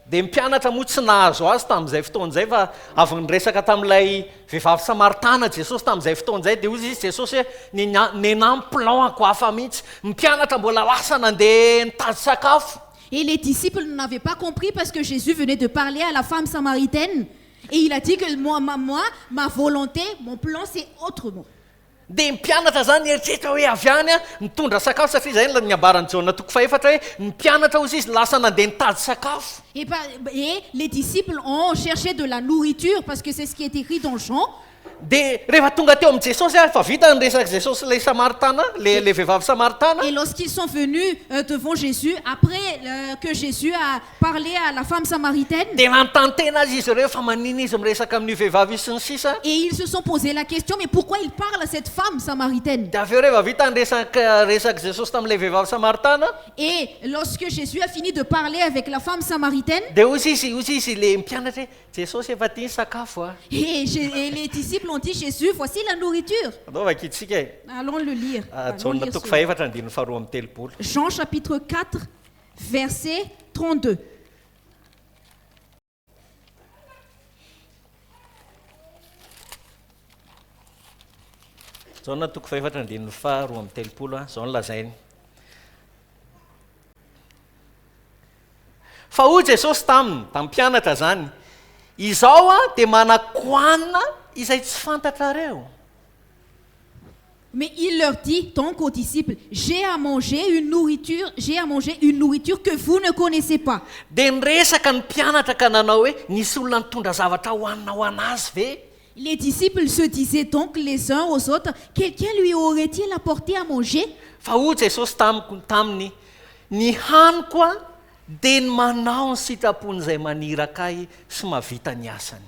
Dia ny mpianatra moa tsy nahazo azy tamin'izay fotoana izay fa avy niresaka tamin'ilay vehivavy samaritana Jesosy tamin'izay fotoana izay dia hoy izy Jesosy hoe nena- nenan'ny plan-ko hafa mihitsy. Ny mpianatra mbola lasa nandeha nitady sakafo. Et les disciples n'en avaient pas compris parce que Jésus venait de parler à la femme samaritaine et il a dit que moi, ma, moi, ma volonté, mon plan c'est autrement. Dia ny mpianatra izany nieritreritra hoe avy any aho nitondra sakafo, satria izay no niambaran'i Jaona toko fahefatra hoe ny mpianatra hozy izy lasa nandeha nitady sakafo. Et pa, et les disciples ont cherche de la nourriture parce que c'est ce qui est écrit dans Jean. Dia rehefa tonga teo amin'i Jesosy ary efa vita ny resak'i Jesosy sy ilay Samaritana, ilay, ilay vehivavy Samaritana. Et lorsqu'ils sont venus devant Jesus après que Jesus a parler à la femme samaritaine. Dia nantantena azy izy ireo fa manina izy miresaka amin'io vehivavy io sy ny sisa. Et ils se sont pose la question mais pourquoi il parle à cette femme samaritaine? Dia avy eo rehefa vita ny resaka resak'i Jesosy tamin'ilay vehivavy samaritana. Et lorsque Jésus a fini de parler avec la femme samaritaine. Dia hoy izy hoy izy ilay mpianatra hoe, Jesosy efa ity ny sakafo a. Et je et les disciples ont dit Jésus, voici la nourriture. Andao vakintsika e. Allons le lire. Allons Jaona lire toko cela. fahefatra andininy faharoa amby telopolo. Jean chapitre 4 Verset 32. Jaona toko fahefatra andininy faha roa amby telopolo a, izao no lazainy. Fa hoy Jesosy taminy, tamin'ny mpianatra izany, Izaho dia manakoanina izay tsy fantatrareo. Mais il leur dit donc aux disciples, J'ai à manger une nourriture, j'ai à manger une nourriture que vous ne connaissez pas. Dia niresaka ny mpianatra ka nanao hoe, Nisy olona nitondra zavatra hohanina ho an'azy ve? Les disciples se disaient donc les uns aux autres, Quelqu'un lui aurait-il apporté à manger? Fa hoy Jesosy tamiko, taminy, Ny haniko dia ny manao ny sitrapon'Izay maniraka Ahy sy mahavita ny asany.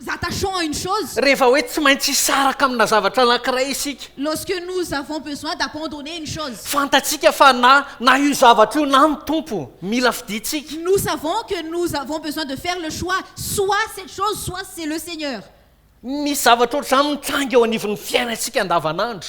Nous attachons à une chose. Rehefa hoe tsy maintsy hisaraka amina zavatra anankiray isika. Lorsque nous avons besoin d'abandonner une chose. Fantatsika fa na, na io zavatra io na ny Tompo mila fidintsika. Nous savons que nous avons besoin de faire le choix, soit cette chose, soit c'est le Seigneur. Misy zavatra ohatr'izany mitranga eo anivon'ny fiainantsika andavanandro.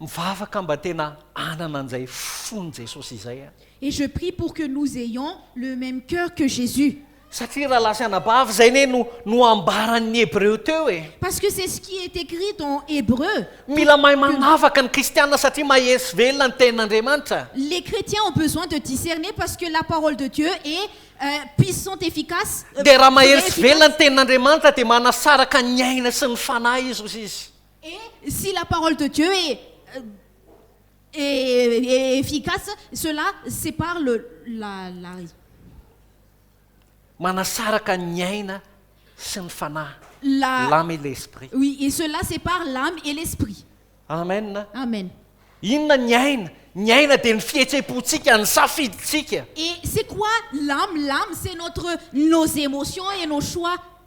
Mivavaka mba tena hanana an'izay fon'i Jesosy izay aho. Et je prie pour que nous ayons le même cœur que Jésus. Satria rahalahy sy anabavy izay anie no no ambaran'ny Hebreo teo e. Parce que c'est ce qui est écrit dans Hébreux. Mila mahay manavaka ny kristiana satria mahery sy velona ny tenin'Andriamanitra. Les chrétiens ont besoin de discerner parce que la parole de Dieu est puissante efficace. Dia raha mahery sy velona ny tenin'Andriamanitra dia manasaraka ny aina sy ny fanahy izy hoy izy. Et si la parole de Dieu est est est efficace, cela c'est par le la la ry. Manasaraka ny aina sy ny fanahy, La l'âme et l'esprit. oui et cela c'est par l'âme et l'esprit. Amen a. Amen. Inona ny aina? Ny aina dia ny fihetseham-pontsika, ny safidintsika. Et c'est quoi l'âme? L'âme c'est notre nos émotions et nos choix.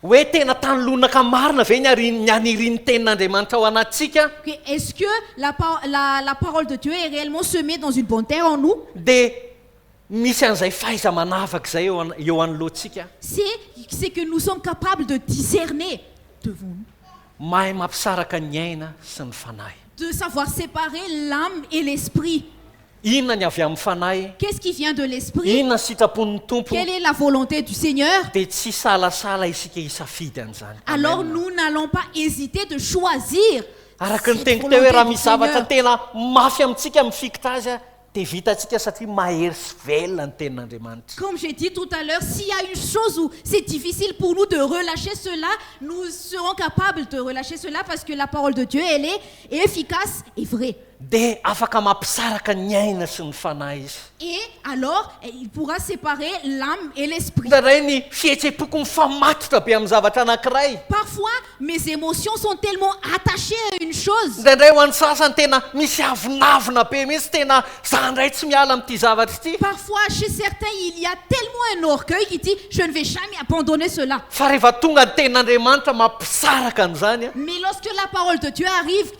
Hoe tena tany lonaka marina ve ny arin ny an irin ny tenin Andriamanitra ao anatintsika? Hoe est ce que la pa la la parole de Dieu est réellement semée dans une bonne terre en nous? Dia misy an'izay fahaiza manavaka izay eo an eo anoloantsika? Se c'est que nous sommes capables de discerner devant nous. Mahay mampisaraka ny aina sy ny fanahy. De savoir séparer l'âme et l'esprit. Inona ny avy amin'ny Fanahy? Qu'est-ce qui vient de l'Esprit? Inona ny sitrapon'ny Tompo? Quelle est la volonté du Seigneur? Dia tsy hisalasala isika hisafidy an'izany. Alors Amen. nous n'allons pas hésiter de choisir Araka ny cette teniko teo hoe volonté raha du misy zavatra Seigneur. tena mafy amintsika mifikitra azy dia vitantsika satria mahery sy velona ny tenin'Andriamanitra. Comme j'ai dit tout à l'heure, s'il y a une chose où c'est difficile pour nous de relâcher cela, nous serons capables de relâcher cela parce que la parole de Dieu, elle est efficace et vraie. Dia afaka mampisaraka ny aina sy ny fanahy izy. Et alors il pourra separer l'âme et l'esprit. Indray ny fihetsem-poko mifamatotra be amin'ny zavatra anankiray. Parfois mes émotions sont tellement attachées à une chose. Indraindray ho an'ny sasany tena misy avonavona be mihitsy, tena za indray tsy miala amin'ity zavatra ity. Parfois chez certains il y a tellement un orgueil qui dit je ne vais jamais abandonner cela. Fa rehefa tonga ny tenin'Andriamanitra mampisaraka an'izany. Mais lorsque la parole de Dieu arrive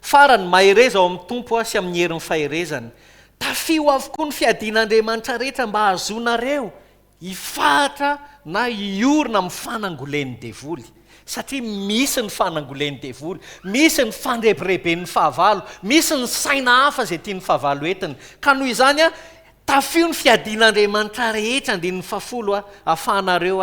Farany, mahereza ao amin'ny Tompo aho sy amin'ny herin'ny faherezany. Tafio avokoa ny fiadian'Andriamanitra rehetra mba hahazoanareo hifahatra na hiorina amin'ny fanangolen'ny devoly. Satria misy ny fanangolen'ny devoly, misy ny fandrebireben'ny fahavalo, misy ny saina hafa izay tian'ny fahavalo entiny. Ka noho izany, tafio ny fiadian'Andriamanitra rehetra, andininy faha folo, ahafahanareo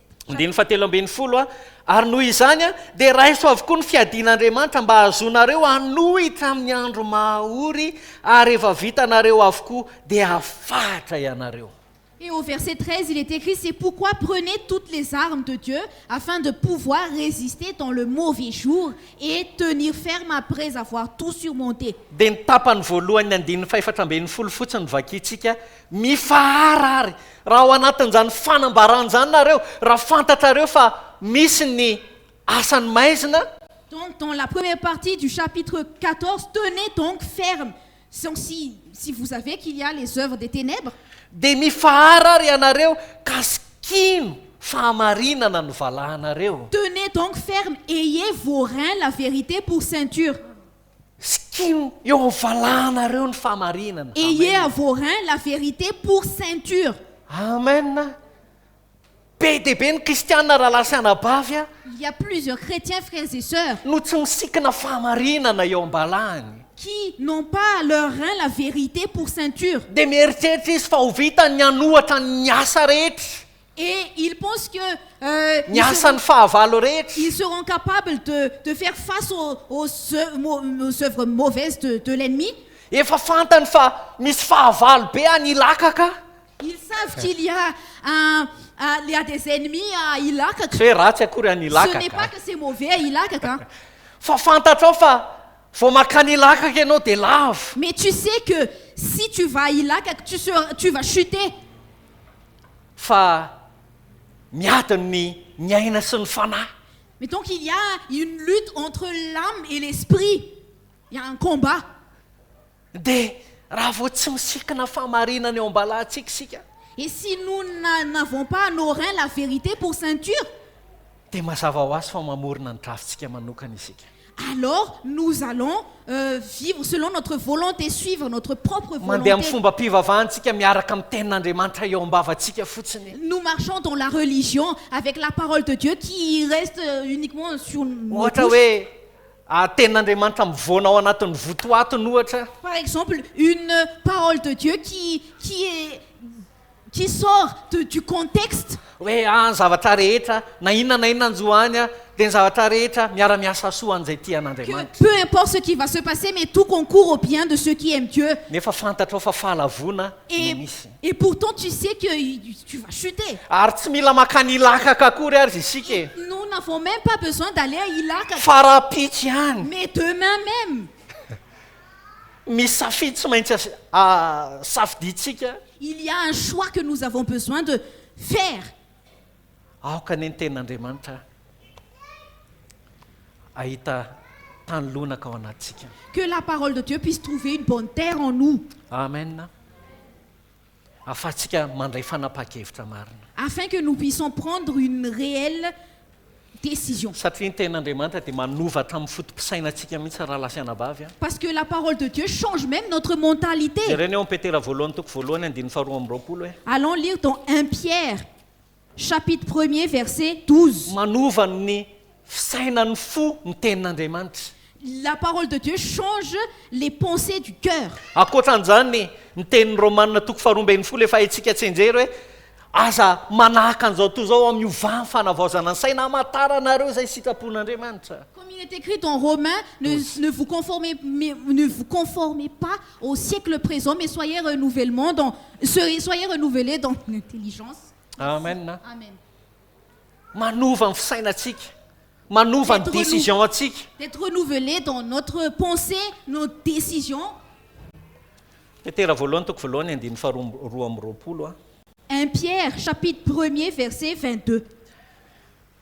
Andininy fahatelo ambin'ny folo, Ary noho izany dia raiso avokoa ny fiadian'Andriamanitra mba hahazoanareo hanohitra amin'ny andro maha-ory, ary rehefa vitanareo avokoa dia hafahatra ianareo. Et au verset 13 il est écrit, c'est pourquoi prenez toutes les armes de Dieu afin de pouvoir résister dans le mauvais jour et tenir ferme après avoir tout surmonté. Dia ny tapany voalohan'ny andininy fahefatra ambin'ny folo fotsiny no vakintsika, Mifahara àry, raha ao anatin'izany fanambarana izany nareo, raha fantatrareo fa misy ny asan'ny maizina, Donc, dans la première partie du chapitre quatorze, tenez donc ferme, donc si, si vous savez qu'il y a les œuvres des ténèbres, dia mifahara àry ianareo ka sikino fahamarinana ny valahanareo. Tenez donc ferme, ayez vos reins la vérité pour ceinture. Skin eo am valahanareo ny famarinana. Ayez à vos reins la vérité pour ceinture. Amen a! Be dia be ny kristiana rahalahy sy anabavy a! Il y a plusieurs chrétiens frères et sœurs. No tsy misikina fahamarinana eo am-balahany. Qui n'ont pas à leurs reins la vérité pour ceinture. Dia mieritreritra izy fa ho vitany ny hanohatra ny asa rehetra. Et ils pensent que Ny asan'ny fahavalo rehetra. ils seront capables de de faire face aux aux aux œuvres mauvaises de de l'ennemi. Efa fantany fa misy fahavalo be any Ilaka ka. Ils savent qu'il y a un il y a des ennemis à Ilaka ka. Tsy hoe ratsy akory any Ilaka ka. Ce n'est pas que c'est mauvais à Ilaka ka. Fa fantatrao fa vao mankany Ilaka ka ianao dia lavo. Mais tu sais que si tu vas à Ilaka que tu seras tu vas chuter. fa miadiny ny ny aina sy ny fanahy. Mais donc il y a une lutte entre l'âme et l'esprit, il y a un combat. Dia raha vao tsy misikina fahamarinana eo am-balahantsika isika. Et si nous n'avons pas à nos reins la vérité pour ceinture. Dia mazava ho azy fa mamorona ny drafintsika manokana isika. Alors nous allons vivre selon notre volonté, suivre notre propre volonté. Mandeha amin'ny fombam-pivavahantsika miaraka amin'ny Tenin'Andriamanitra eo am-bavantsika fotsiny. Nous marchons dans la religion avec la parole de Dieu qui reste uniquement sur nos bouches. Ohatra hoe Tenin'Andriamanitra mivoana ao anatin'ny votoatiny ohatra. Par exemple une parole de Dieu qui qui est qui sort de du contexte. Hoe aah ny zavatra rehetra na inona na inona anjo any dia ny zavatra rehetra miara miasa soa an'izay tia an'Andriamanitra. Que peu importe ce qui va se passer mais tout concourt au bien de ceux qui aiment Dieu. Nefa fantatrao fa fahalavoana no misy. Et pourtant tu sais que tu vas chuter. Ary tsy mila makany Ilakaka akory ary isika e. Et nous n'avons même pas besoin d'aller à Ilakaka. Fara-pitsy any. Mais demain même. Misy safidy tsy maintsy safidintsika. Il y a un choix que nous avons besoin de faire. Aoka anie ny Tenin'Andriamanitra hahita tany lonaka ao anatintsika. Que la parole de Dieu puisse trouver une bonne terre en nous. Amen. ahafahantsika mandray fanapahan-kevitra marina. Afin que nous puissions prendre une réelle décision. Satria ny Tenin'Andriamanitra dia manova hatramin'ny foto-pisainantsika mihitsy rahalahy sy anabavy a! Parce que la parole de Dieu change même notre mentalité. Jerena eo amin'ny Petera voalohany toko voalohany andininy faharoa amby roapolo hoe. Allons lire dans un Pierre Chapitre premier verset 12. Manova ny fisainan'ny fo ny tenin'Andriamanitra. La parole de Dieu change les pensées du cœur. Ankoatran'izany, ny tenin'ny Romana toko faharoa ambin'ny folo efa haintsika tsianjery hoe, Aza manahaka an'izao toa izao amin'ny ovàn'ny fanavaozana ny saina hamantaranareo izay sitrapon'Andriamanitra. Comme il est écrit dans Romains, ne, ne vous conformez, mais, ne vous conformez pas au siècle présent, mais soyez renouvellement dans, soyez renouvelés dans l'intelligence. amen manova ny fisainantsika manova ny décision antsika d'être renouvelé dans notre pensée nos décisions petera voalohany toko voalohany andiny faharoa roa amby roapolo a un pierre chapitre premier verset 22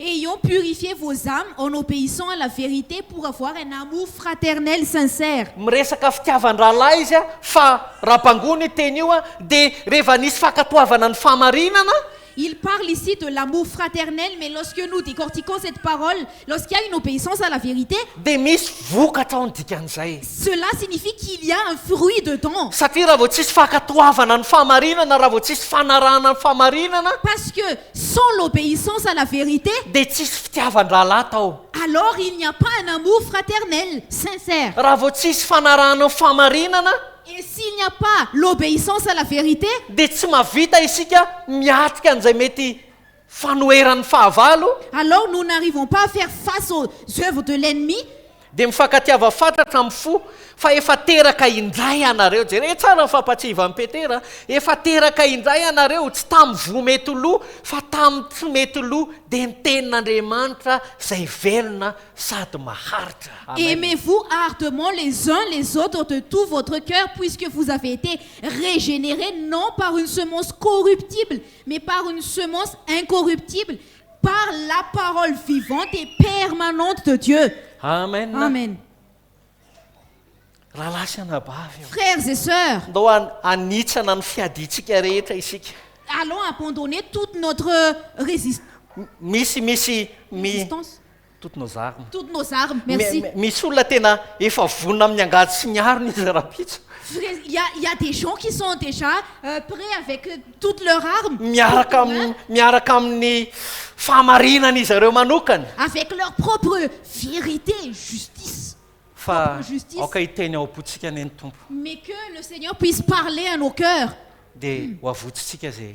Ayons purifié vos âmes en obéissant à la vérité pour avoir un amour fraternel sincère. Miresaka fitiavan-drahalahy izy a, fa raha bango ny teny io a, dia rehefa nisy fankatoavana ny fahamarinana, Il parle ici de l'amour fraternel mais lorsque nous décortiquons cette parole, lorsqu'il y a une obéissance à la vérité, dia misy vokatra ao ny dikan'izay. cela signifie qu'il y a un fruit dedans. Satria raha vao tsisy fankatoavana ny fahamarinana, raha vao tsisy fanarahana ny fahamarinana, Parce que Sans l'obéissance à la vérité. Dia tsisy fitiavan-drahalahy tao. Alors il n'y a pas un amour fraternel, sincère. Raha vao tsisy fanarahana ny fahamarinana. Et s'il n'y a pas l'obéissance à la vérité. Dia tsy mahavita isika miatrika an'izay mety fanoheran'ny fahavalo. Alors nous n'arrivons pas à faire face aux œuvres de l'ennemi. Dia mifankatiava fatratra amin'ny fo fa efa teraka indray ianareo. Jereo tsara ny fampatsiahivan'i Petera, Efa teraka indray ianareo, tsy tamin'ny voa mety lo, fa tamin'ny tsy mety lo, dia ny Tenin'Andriamanitra izay velona sady maharitra. Aimez-vous ardement les uns les autres de tout votre cœur, puisque vous avez été régénérés non par une semence corruptible, mais par une semence incorruptible, Par la parole vivante et permanente de Dieu. Amen. Amen. Rahalahy sy anabavy ô. Frères et sœurs. Ndao hanitsana ny fiadiantsika rehetra isika. Allons abandonner toute notre résistance. Misy misy mi. Résistance. Toutes nos armes. Toutes nos armes. Merci. Mais misy olona tena efa vonona amin'ny angady sy ny arony izy rahampitso. Vrai, il y a, il y a des gens qui sont déjà euh, prêts avec euh, toutes leurs armes. Miaraka Toutes leurs- amin'ny miaraka amin'ny fahamarinany izy ireo manokana. Avec leur propre vérité, justice. Fa Propre justice. aoka hiteny ao am-pontsika anie ny Tompo. Mais que le Seigneur puisse parler à nos cœurs. Dia ho avotsintsika izay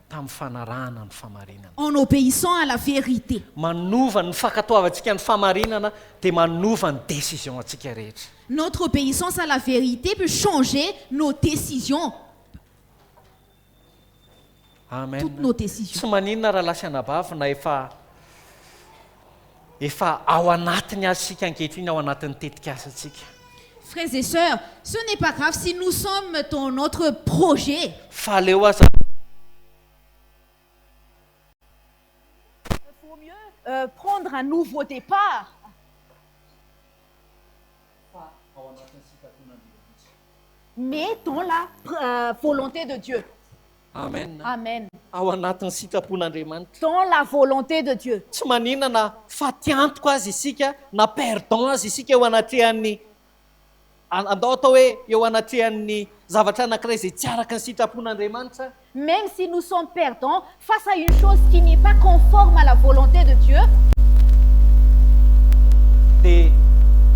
tamin'ny fanarahana ny famarinana. En obéissant à la vérité. Manova ny fankatoavantsika ny famarinana dia manova ny décision-ntsika rehetra. Notre obéissance à la vérité peut changer nos décisions. Amen. Toutes nos décisions. Tsy maninona raha lahy sy anabavy na efa efa ao anatiny aza isika ankehitriny ao anatin'ny tetikasantsika. Frères et sœurs, ce n'est pas grave si nous sommes dans notre projet. Fa aleo aza. Il faut mieux prendre un nouveau départ. Fa ao anatin'ny sitrapon'Andriamanitra. Mais dans la volonté de Dieu. Amen. Amen. Ao anatin'ny sitrapon'Andriamanitra. Dans la volonté de Dieu. Tsy manina na faty antoka aza isika na perdant aza isika eo anatrehan'ny andao atao hoe eo anatrehan'ny zavatra anankiray izay tsy araka ny sitrapon'Andriamanitra. Même si nous sommes perdants face à une chose qui n'est pas conforme à la volonté de Dieu. Dia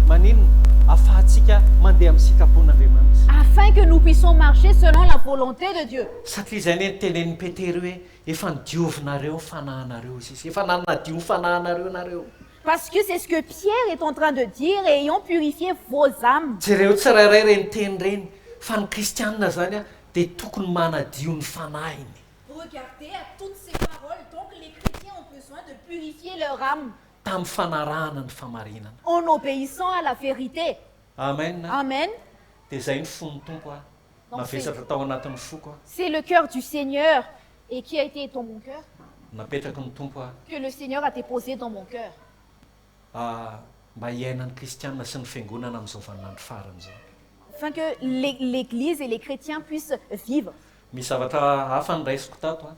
maninona afahantsika mandeha amin'ny sitrapon'Andriamanitra? Afin que nous puissions marcher selon la volonté Paix de Dieu. Satria izay anie ny tenenin'i Petera hoe efa nodiovinareo ny fanahinareo izy izy efa nanadio ny fanahinareo nareo. Parce que c'est ce que Pierre est en train de dire et ayant purifié vos ames. Jereo tsirairay ireny teny ireny fa ny kristianina izany dia tokony manadio ny fanahiny. Regardez à toutes ces paroles donc les chretiens ont besoin de purifier leur ame. Tamin'ny fanarahana ny famarinana. En obéissant à la vérité. Amen. Amen. Dia izay no fon'ny Tompo a. Navesatra tao anatin'ny foko aho. C'est le cœur du Seigneur et qui a été dans mon cœur. Napetraky ny Tompo aho. Que le Seigneur a deposé dans mon cœur. A Mba hiainan'ny kristiana sy ny fiangonana amin'izao vaninandro farany izao. Afin que l'Eglise et les chrétiens puissent vivre. Misy zavatra hafa noraisiko tato an.